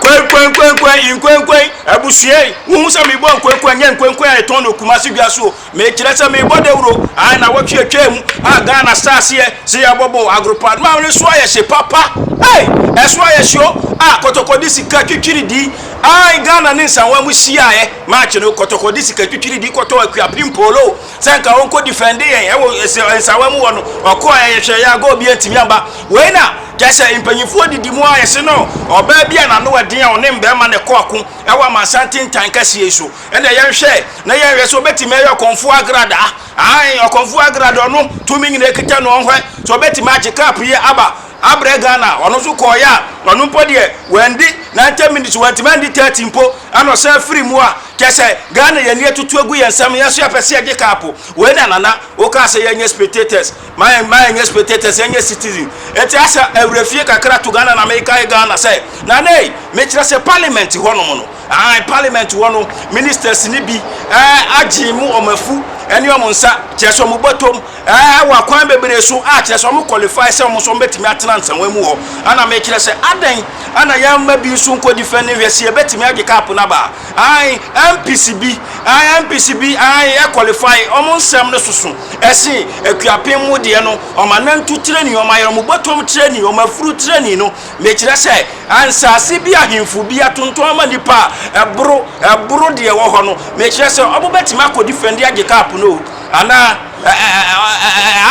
Kwenkwenkwenkwen, nkwenkwen, abusua yi, wohu sɛ mebɔ nkwenkwen a, nyɛ nkwenkwen a yɛtɔn no Kumasi dwa so o. Mekyerɛ sɛ mebɔ dawuro, ae, nnawɔtwe a atwaa mu a Ghana saa aseɛ sɛ yɛabɔ bɔɔl, agoropa, ma no so ayɛ hye papa, ei, ɛso ayɛ hye o, ah, Kɔtɔkɔ de sika twitwiridii, ae, Ghana ne Nsawam hyiaeɛ match no, Kɔtɔkɔ de sika twitwiridii kɔtɔɔ Akuapem Polo. sɛ nka ɔnkɔ defend yɛn ɛwɔ ɛsɛ nsawa mu wɔ no ɔkɔ a yɛhwɛ yɛ agɔ obi antumi amba wei na kyɛ sɛ mpanyinfoɔ didi mu a yɛse no ɔbaa bi a n'ano ɛden a ɔne mbɛɛma na ɛkɔ ako ɛwɔ amansan tentan kɛseɛ yi so ɛna yɛnhwɛ na yɛnhwɛ sɛ ɔbɛtumi ɛyɛ ɔkɔnfoɔ agrada ae ɔkɔnfoɔ agrada ɔno tumi nyina ɛkita no ɔnhwɛ sɛ ɔbɛtumi agye cup yi aba abrɛ Ghana a ɔno nso kɔeɛ a ɔno mpo deɛ wandi 90 minutes wantumi andi 30 mpo ɛna ɔsan firi mu a kyɛ sɛ Ghana yɛn ani atutu agu yɛn nsam yɛn nso yɛpɛ sɛ yɛgye cup wei na nana wokaa sɛ yɛnyɛ spectators ma yɛn ma yɛnyɛ spectators yɛnyɛ citizen eti asɛ awura fie kakra to Ghana na mekae Ghana sɛ nana ei mekyerɛ sɛ parliament hɔnom no ahan parliament hɔ no ministers ne bi ɛɛ agye mu wɔn afu ɛne wɔn nsa kyerɛ sɛ wɔn bɔtɔm Ɛɛ, wɔ akwan bebree so a, kyerɛ sɛ wɔn qualify sɛ wɔn nso wɔn bɛtumi atena nsɛnwa mu hɔ. Ɛna mekyerɛ sɛ, adɛn ɛna yɛn mma bi nso nkɔ defend hwɛ sɛ yɛbɛtumi agye cup no aba. Ae, MPs bi, ae, MPs bi, ae, ɛ qualify, wɔn nsɛm no soso ɛsen Akuapem mo deɛ no, wɔn anantu training, wɔn ayerɛmobɔtɔm training, wɔn afuru training no. Mekyerɛ sɛ, nsaase bi ahemfo bi atontɔn ama nnipa a ɛboro, ɛboro deɛ ɛwɔ hɔ no. Mekyerɛ sɛ, wɔn bɛtumi akɔ defend agye cup no o. Ana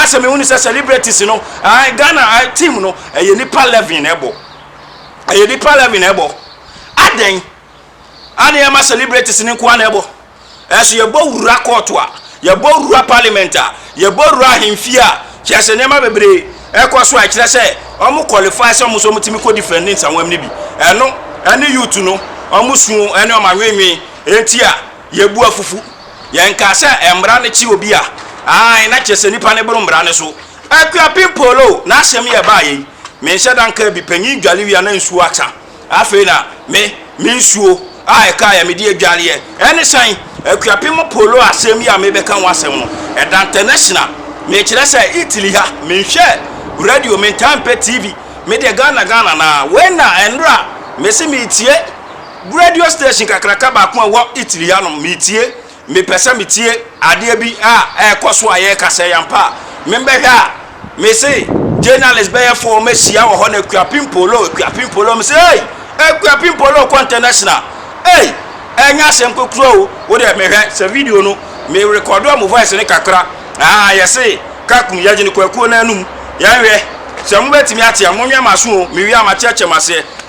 asɛ mehunu sɛ celebrities no ae Ghana team no ɛyɛ nipa 11 na ɛbɔ ɛyɛ nipa 11 na ɛbɔ adɛn ane ɛma celebrities no nkoa na ɛbɔ ɛso yɛbɔ wura court a yɛbɔ wura parliament a yɛbɔ wura ahemfie a kyerɛ sɛ nneɛma bebree ɛkɔ so a ɛkyerɛ sɛ ɔmo qualify sɛ ɔmo so ɔmo tumi kɔ defend ne nsawam no bi ɛno ɛne youth no ɔmo suo ɛne ɔmo anwenwen ɛnti a yɛbu afufu Yɛnkaa sɛ mmara no kye obi a, aane, na kyerɛ sɛ nipa no boro mmara no so. Akuapem Polo na asɛm yi a ɛbaeɛ yi, menhyɛ da nka bi, panyin dwale wie a na nsuo asa, afei na me, me nsuo a ɛkaeɛ a mede adwareɛ, ɛne sɛn? Akuapem Polo asɛm yi a merebɛka ho asɛm no, ɛda ntɛnɛhyena, mekyerɛ sɛ Italy ha, menhwɛ radio, mentaa mpɛ TV, medeɛ Ghana Ghana no ara, wei na nnora mese meretie, Radio station kakraka baako a ɛwɔ Italy hanom, metie, mepɛ sɛ metie adeɛ bi a ɛrekɔ so a yɛreka, sɛ ɛyɛ ampa a, membɛhwɛ a, mese, journalist bɛyɛ four mɛhyia wɔ hɔ na Akuapem Polo, Akuapem Polo, mese, ei, Akuapem Polo kɔ international, ei, ɛnyɛ asɛm kokuroo o, wo deɛ mehwɛ, sɛ video no, me rekɔdo ɔmo voice no kakra, aa, yɛse, Kakum, yɛgyene Kwakuo no anum, yɛnhwɛ, sɛ mobɛtumi ate a, monwɛn m'aso o, mewie a makyerɛkyerɛ mo aseɛ.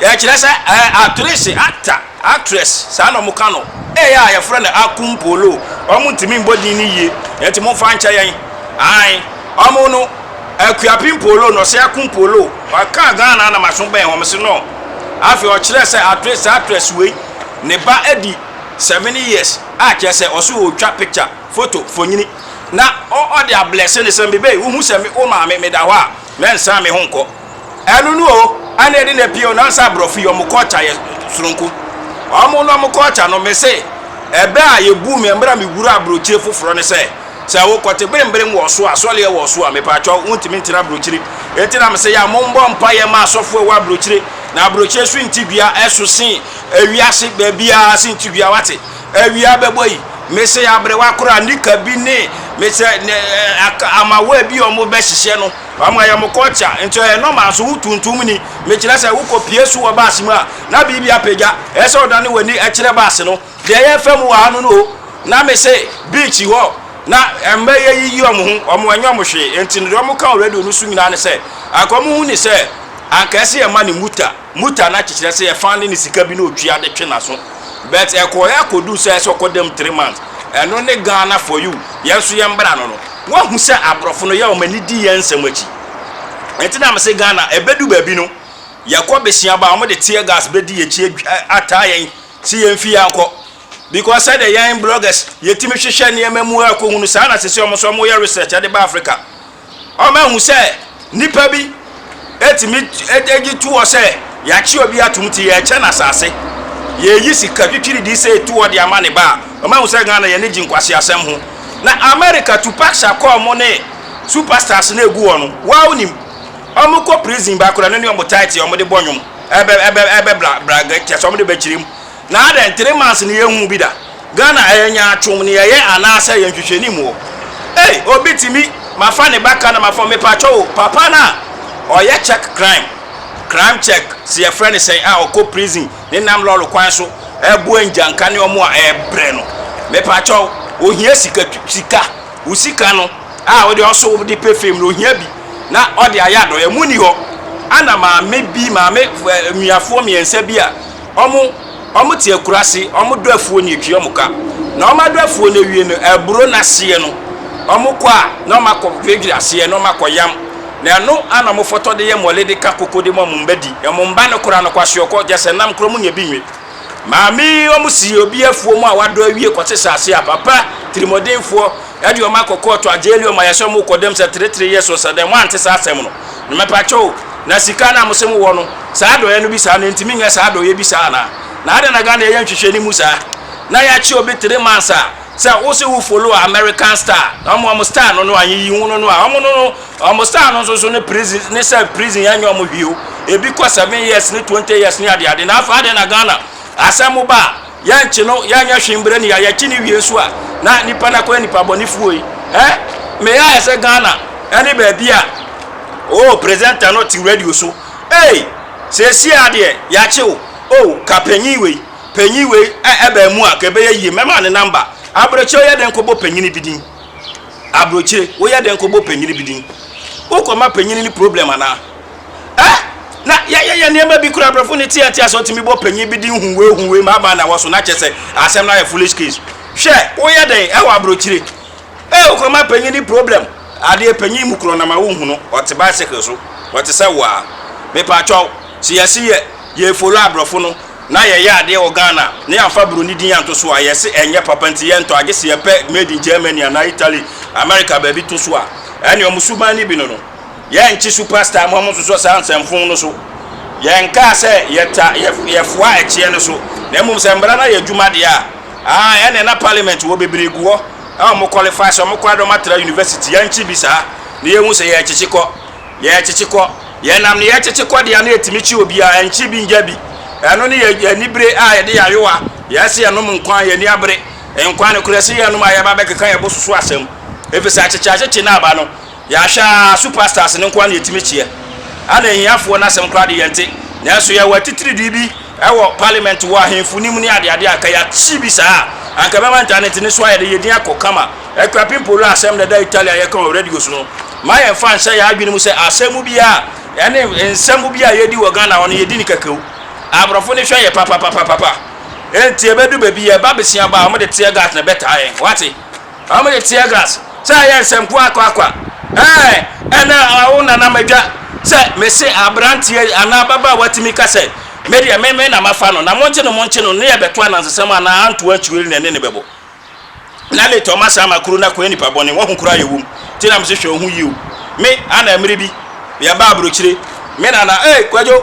Yɛkyerɛ sɛ ɛɛ atrese, actor, actress, saa na wɔka no. Ɛyɛ a yɛfrɛ no akumpolo. Wɔn ntumi mbɔ din no yie, ɛnti mo nfa nkyɛ yɛn. Ae, wɔn no, akuapim polo na ɔsɛ akumpolo. Wɔkaa Ghana na maso bɛn wɔn se no. Afei ɔkyerɛ sɛ atrese, actress wei, ne ba adi seven years a kyerɛ sɛ ɔse ɔretwa picture, photo, mfonyini. Na ɔ ɔde ablɛse no sɛ mebei, wohu sɛ me wo maame meda hɔ a, mɛnsan me ho nkɔ. Ɛno no o ɛna ɛde na pii o na sɛ aborɔfo yi wɔn culture yɛ soronko wɔn no wɔn culture no me se ɛbɛ a yɛ buu me mmerɛ a me wura aburokyire foforɔ ne sɛ sɛ wo kɔte beremberem wɔ so a asɔleɛ wɔ so a me paatwa wo ntumi ntena aburokyire eti na me se yɛ a mo mbɔ mpa yɛ ma asɔfo ɛwɔ aburokyire na aburokyire so nti dua ɛso se ewiase baabi a se nti dua wate awia bɛbɔ yi me se aberewa kora nika bi ne me se ne ama wɔ bi wɔn bɛ hyehyɛ no Wɔama yɛn mo kɔɔkya, nti ɔyɛ nɔma nso wo tuntum ni. Mekyerɛ sɛ wokɔ pie su wɔ baase mu a, na biribi apagya. Ɛyɛ sɛ ɔdane w'ani kyerɛ baase no. Deɛ yɛ fɛ mu wɔ ha no no o, na me se beach hɔ na mma yɛ yiyi wɔn ho, wɔn ɛnyɛ wɔn hwee. Nti no deɛ wɔn ka wɔ radio no so nyinaa ne sɛ, anka wɔn hu ne sɛ anka ɛse yɛ ma ne muta. Muta no akyekyerɛ sɛ yɛfaa no ne sika bi na otua de twe n'aso but ɛkɔɔɛ akɔduu sɛ ɛsɛ ɔkɔ dam three months ɛno ne Ghana for you yɛn nso yɛn bra no no wahu sɛ abrɔfo no yɛ wɔn ani di yɛn nsɛm akyi nti na mese Ghana ɛbɛdu baabi no yɛkɔ besia ba wɔn de tear gas bɛdi yɛkyi ataa yɛn si yɛn fi yɛn kɔ because sɛdeɛ yɛn bloggers yɛtumi hwehwɛ nneɛma mu akɔhunu saa na sese wɔn nso wɔyɛ research ɛde ba Africa Wɔahu sɛ nnipa bi tumi gye to hɔ sɛ yɛakye obi atom nti yɛrekyɛ no asase, yɛreyi sika twitwiridii sei to hɔ de ama ne ba a, wɔahu sɛ Ghana yɛn ani gye nkwaseasɛm ho. Na America Tupac Shakur mo ne Super Stars no a ɛgu hɔ no, woaa wonim? Wɔkɔ prison baa koraa no ne wɔn tight a wɔde bɔ nnwom ɛbɛ ɛbɛ ɛbɛ bla bla kyerɛ sɛ wɔde bɛkyerɛ mu. Na adɛn, three months no yɛnhuu bi da? Ghana ɛyɛ nyaatwom nea ɛyɛ anaasɛ ɛyɛ nhwehwɛnim wɔ? Ei obi tumi mafa ne ba ka na mafa mepakyɛw o papa no a ɔyɛ check crime, crime check sɛ yɛfrɛ no sɛn a ɔkɔ prison ne nam lɔre kwan so ɛboa ngyanka ne ɔmo a ɛbrɛ no mepakyɛw ohia sika tu sika wo sika no a wode ɔso wode pɛ fame no ohia bi na ɔde ayɛ adɔyɛ mo nni hɔ ana maame bi maame nuafoɔ mmiɛnsa bi a Ɔmo, ɔmo te akuraase, ɔmo dɔ afuo no yɛtwi ɔmo ka, na ɔmo adɔ afuo no awie no, aburo no aseɛ no, ɔmo kɔ a, na ɔmo akɔ dwiradwira aseɛ, na ɔmo akɔ yam, na ɛno ara na ɔmo fɔtɔ de yɛ mɔle de ka koko de ma ɔmo mma di, ɔmo mma no koraa no, kwaseɔkɔ, gyɛsɛ nam korɔ ɔmo nya bi nwe. Maame yi, ɔmo si obi afuo mu a wadɔ awie kɔte saase a, papa, tirimɔdenfoɔ, ɛde ɔmo akɔ kɔɔto, agyɛɛli ɔmo ayɛ sɛ ɔmo rekɔ dɛm sɛ teretere yɛ so, sɛ dɛn, moante saa asɛm no? na mɛpakyɛ o na sika no a mose mowɔ no saa adɔeɛ no bi saa no ɛnti menyɛ saa adɔeɛ bi saa anaa na adɛn na Ghana yɛyɛ nhwehwɛ no mu saa na yɛakye obi three months a sɛ wo se wo follow American star na ɔmo ɔmo star no no a yiyi ho no no a ɔmo no no ɔmo star no nso so ne prison ne sɛ prison yɛnyɛ ɔmo hwio ebi kɔ seven years ne twenty years ne adeade na afa adɛn na Ghana asɛm ba a yɛnkye no, yɛnyɛ hwee mbrɛ ne yɛ a, yɛkye no wie so a, na nipa no akɔyɛ nipa bɔnefoɔ yi. Ɛ? Me yɛ ayɛ sɛ Ghana ɛne baabi a, oh, presenter no te radio so. Ei! Seesie a deɛ, yɛakye wo. Oh, ka panyin wei, panyin wei ɛ, ɛbaa mu a, ka ɛbɛyɛ yie. Mɛma ne number. Abrokyire woyɛ dɛn kɔbɔ panyin bi din? Abrokyire, woyɛ dɛn kɔbɔ panyin bi din? Wokɔma panyin no problem anaa? Ɛ? Na yɛyɛ yɛn nneɛma bi koraa brɛfo ne teatea sɛ otumi bɔ panyin bi din huwei huwei ma ama anawɔ so na kyɛ sɛ asɛm no ayɛ foolish case. Hwɛ, woyɛ dɛn wɔ abrokyire? Ɛ, okuroma panyin ne problem. Adeɛ panyin mu korɔ na ma wonhu no, ɔte bicycle so, ɔte sɛ wo ara. Mepakyɛw, sɛ yɛse yɛ, yɛ follow abrɔfo no na yɛyɛ adeɛ wɔ Ghana na yɛamfa broni din anto so a, yɛse ɛnyɛ papa nti yɛntɔ agye sɛ yɛpɛ made in Germany anaa Italy, America baabi to so a. Ɛne wɔn suban no bi no no. Yɛnkye superstar mma wɔnsosɔ saa nsɛmfoo no so. Yɛnkaa sɛ yɛta, yɛ, yɛfoa ɛkyeɛ no so, na mmom sɛ mmara no ayɛ adwuma deɛ a, aa, ɛneɛ na parliament wɔ bebree gu hɔ a wɔn qualify sɛ wɔn kɔ ara na wɔn atra university. Yɛnkye bi saa na yɛhu sɛ yɛrekyekye kɔ, yɛrekyekye kɔ. Yɛnam ne yɛrekyekye kɔ deɛ a na yɛtumi kye obiara, ɛnkye bi ngya bi. Ɛno ne yɛ, yɛ anibere a yɛde yɛ ayowa. Yɛse yɛnom nkwa a, yɛn ani abere. Nkwa no korɛ, se yɛnom a yɛba abɛkeka yɛbo so so asɛm. Efisɛ akyekye akyekye no aba no. Yɛahwɛ a, superstars no nkoa na yɛtumi kyeɛ. Ana ahiafoɔ no asɛm koraa de yɛnte. Nanso yɛwɔ atitiridii bi wɔ parliament, wɔ ahemfo no mu ne adeade a anka yɛakye bi saa a, anka ɛbɛma ntanete no so ayɛ de yɛdin akɔ kama. Akua Pimpollo a asɛm no ɛda Italy a yɛka wɔ radio so no, ma yɛmfa nhyɛ yɛn adwene mu sɛ asɛm bi a ɛne nsɛm bi a yɛdi wɔ Ghana hɔ no yɛdi no kɛkɛo. Aborɔfo no hwɛ yɛ papapapapapa. Enti ɛbɛdu baabi yɛba besiaba a wɔde tear gas na ɛbɛtaa yɛn. Woate? Ɔmo de tear grass sɛ ɛyɛ nsɛm kwa kwa kwa ɛɛ ɛna awo nana madwa sɛ mese abranteɛ anaa ababaawa tumi ka sɛ me deɛ me me na mafa no na monkye no monkye no ne ɛbɛto anansesɛm anaa anto ankyireli na ɛne no bɛbɔ na late ɔma saa ma kuro no akɔyɛ nipa bɔne wahu koraa yɛ wom ti na mese hwɛ wo ho yie o me ana mmere bi yɛba abrokyire me nana ee kwadwo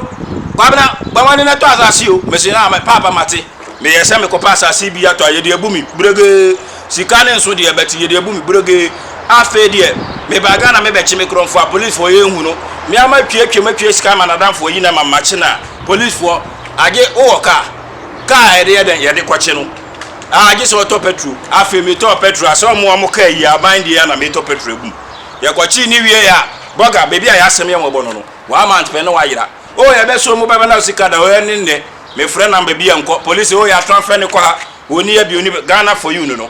kwabena bɔ wɔne no tɔ asase o mese na paapa mate meyɛ sɛ mekɔpɛ asase bi atɔ a yɛde abu me bregee Sika no nso deɛ but yɛde abu me brogee afei deɛ meba Ghana me bɛkye me korɔmfoɔ a police foɔ yɛ nhu no me a ma twa atwa mu atwa sika ama nadamfoɔ yi na ma makye no a police foɔ agye wo wɔ car car a yɛde yɛ dɛn yɛde kɔkye no a agye sɛ ɔtɔ petro afei me tɔɔ petro a sɛ ɔmo ɔmo car yi aban deɛ a na me tɔ petro agum yɛ kɔkye ne wie yɛ a bɔga baabi a yɛ asɛm yɛ wɔbɔ no no one month pɛ ne wa yera o yɛ bɛ so mu bɛbɛ na sika da o yɛ ne nnɛ me frɛ number bi yɛ nkɔ police o yɛ ato afɛ ne kɔ ha. Ɔnni yɛ bi, ɔnni bɛ, Ghana for you no no,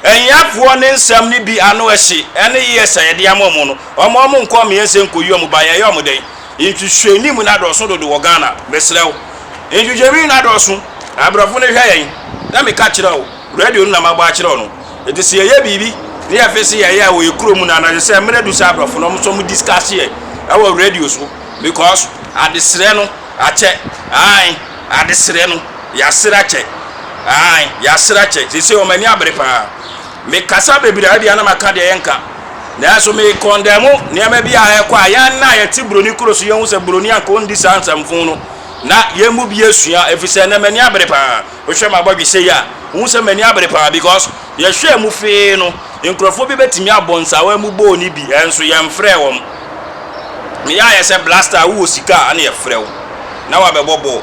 nyafoɔ ne nsɛm no bi ano ɛhye, ɛne ears a yɛde ama wɔn no, wɔn a wɔnkɔ amea nsɛ nkɔyi wɔn ba, yɛyɛ wɔn dɛn? Nhwehwɛnim no adɔɔso dodo wɔ Ghana, mesrɛ wo. Nhwehwɛnim no adɔɔso, aborɔfo no hwɛ yɛn, na meka kyerɛ wo, radio no na mabɔ akyerɛ wo no. Enti sɛ yɛyɛ biribi na yɛfe se yɛyɛ a wɔyɛ kurom no a, na ɛsɛ sɛ mmerɛ du sɛ aborɔfo no nso wɔdiscuss yɛ ɛwɔ radio so because adesrɛ no Akyɛ, ae, adesrɛ no, yɛasrɛ akyɛ, ae, yɛasrɛ akyɛ. Seesei wɔn ani abere paa. Mekasa bebree a, ebia na maka deɛ yɛnka. Nanso mekɔndɛmo nneɛma bi a ɛrekɔ a, yɛn a yɛte buroni kuro so, yɛhu sɛ buroni anka ɔndi saa nsɛmfo no, na yɛn mu bi asua, ɛfiri sɛ ɛnnɛ m'ani abere paa. Wohwɛ m'abɔdwe sei a, wohu sɛ m'ani abere paa because yɛhwɛɛ mu fee no, nkurɔfoɔ bi bɛtumi abɔ nsawa mu bɔɔl no bi nso yɛmfrɛɛ wɔn. Meyɛ ayɛ sɛ Blaster a wowɔ sika a na yɛfrɛ wo na woabɛbɔ bɔɔl.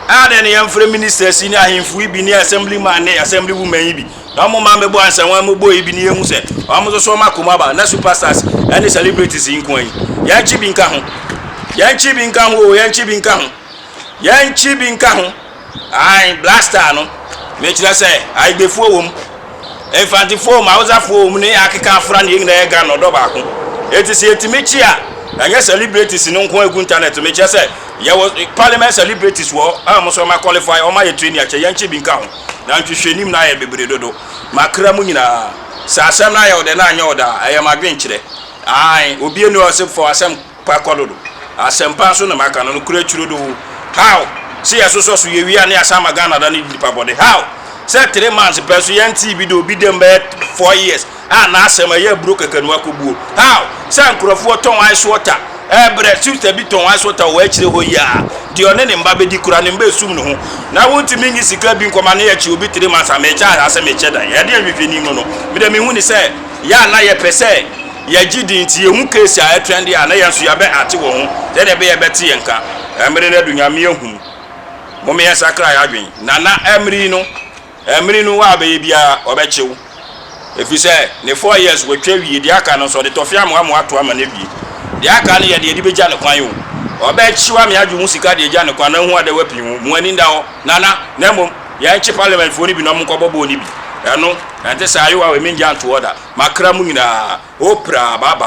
Adɛn na yɛmfrɛ ministers yi ne ahemfo yi bi ne assemblyman ne assemblywoman yi bi na wɔn mma mmɛbɔ nsawa mu bɔɔl yi bi na yɛhu sɛ wɔn nso so wɔn akoma aba na superstars ne celebrities yi nko ara yi. Yɛnkye bi nka ho. Yɛnkye bi nka ho o, yɛnkye bi nka ho. Yɛnkye bi nka ho. Ae blaster no mekyerɛ sɛ Aigbefoɔ wɔ mu, Mfantefoɔ wɔ mu, Hausafoɔ wɔ mu ne akeka afra no yɛn nyinaa yɛ Ghana ɔdɔ baako. Enti sɛ yɛtumi kye a ɛnyɛ celebrities no nko ɛgu internet so. Mekyerɛ sɛ yɛwɔ parliament celebrities wɔ hɔ a wɔn nso wɔn a qualify wɔn ayɛ training akyɛ yɛn kye bi nka ho. Na nhwehwɛnim no ayɛ bebree dodo. Makra mu nyinaa sɛ asɛm no ayɛ ɔdɛ na anyɛ ɔdɛ a ɛyɛ m'adwenkyerɛ. Ae obi ani ɔsɛ fɔ asɛm. Kwa kɔ do do. Asɛmpa so na maka no, nokorɛ kyiro do o. How! Se yɛ sosɔ so yɛ wie a ne yɛ san ma Ghana da ne di nipa bɔne? How! Sɛ three months pɛ so yɛ ntee bi da obi dɛm bɛyɛ four years a na asɛm a ɛyɛ aburo kɛkɛ no akɔ buo? How! Sɛ nkorɔfoɔ tɔn ice water ɛɛ brɛ sister bi tɔn ice water wɔ akyire hɔ yi a deɛ ɔne ne mba bɛdi kura ne mba ɛsum ne ho na wo ntumi nyi sika bi nkɔma ne yɛ kye obi three months a mekyɛ anaasɛ mekyɛ dan? Ɛdeɛ nhwehwɛni mu no me deɛ me hu ne sɛ yɛ a na yɛ pɛ sɛ Yɛgye di nti yehu case a ɛtwɛn de a na yɛn nso yɛabɛ acte wɔ ho sɛnea ɛbɛyɛ ɛbɛte yɛn nka. Ɛmmere no adu Nyame ahu mu. Mom yɛn sakra yɛn adwen. Nana ɛmmere yi no ɛmmere no wa bɛyɛ biara ɔbɛkye wo. Ɛfiri sɛ ne four years watwa awie deɛ aka no nso ɔde tɔfe amoa moa ato ama no awie. Deɛ aka no yɛ deɛ de bɛgya ne kwan o. Ɔbɛkye wo ame adwo ho sika de agya ne kwan na hu adɛ wapii ho. Mo ani nda hɔ Nana na mmom. Yɛnkye parliament foɔ no bi na ɔmo nkɔbɔ bɔɔl no bi. Ɛno, ɛnte saa, Yowawe, mengyaa ntoɔ da. Makra mo nyinaa, Oprah, bye bye.